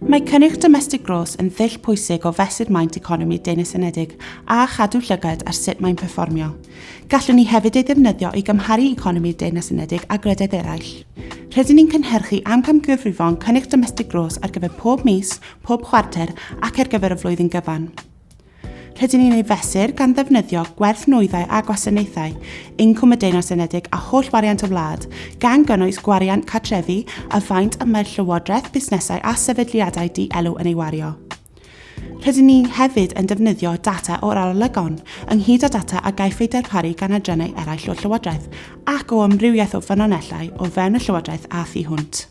Mae cynnyrch domestig gros yn ddull pwysig o fesur maint economi Dyn y Senedig a chadw llygad ar sut mae'n perfformio. Gallwn ni hefyd ei ddefnyddio i gymharu economi Dyn y Senedig â gwledydd eraill. Rydyn ni'n cynhyrchu amcamgyfrifon cynnyrch domestig gros ar gyfer pob mis, pob chwarter ac ar gyfer y flwyddyn gyfan. Rydyn ni'n ei fesur gan ddefnyddio gwerth nwyddau a gwasanaethau, incwm y Deyrnas Unedig a holl wariant y wlad, gan gynnwys gwariant cartrefi a faint y mae'r llywodraeth, busnesau a sefydliadau di-elw yn ei wario. Rydyn ni hefyd yn defnyddio data o'r arolygon, ynghyd â data a gaiff ei darparu gan adrannau eraill o'r Llywodraeth ac o amrywiaeth o ffynonellau o fewn y Llywodraeth a thu hwnt.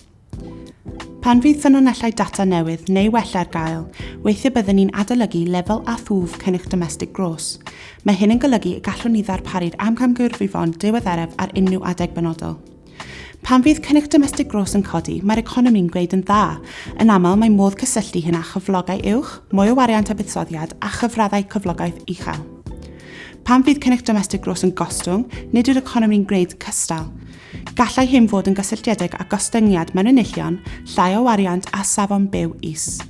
Pan fydd ffynonellau data newydd neu wella ar gael, weithiau byddwn ni'n adolygu lefel a thwf cynnyrch domestig gros. Mae hyn yn golygu y gallwn ni ddarparu'r amcamgyrfyfon diweddaraf ar unrhyw adeg benodol. Pan fydd cynnyrch domestig gros yn codi, mae'r economi'n gwneud yn dda. Yn aml, mae modd cysylltu hyn â chyflogau uwch, mwy o wariant a buddsoddiad, a chyfraddau cyflogaeth uchel. Pan fydd cynnyrch domestig gros yn gostwng, nid yw'r economi'n gwneud cystal. Gallai hyn fod yn gysylltiedig â gostyngiad mewn enillion, llai o wariant a safon byw is.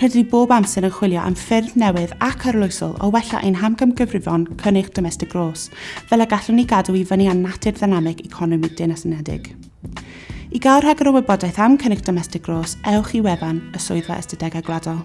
Rydyn ni bob amser yn chwilio am ffyrdd newydd ac arloesol o wella ein hamgymgyfrifon cynnyrch domestig gros, fel y gallwn ni gadw i fyny â natur ddynamig economi Deyrnas Unedig. I gael rhagor o wybodaeth am cynnyrch domestig gros, ewch i wefan y Swyddfa Ystadegau Gwladol.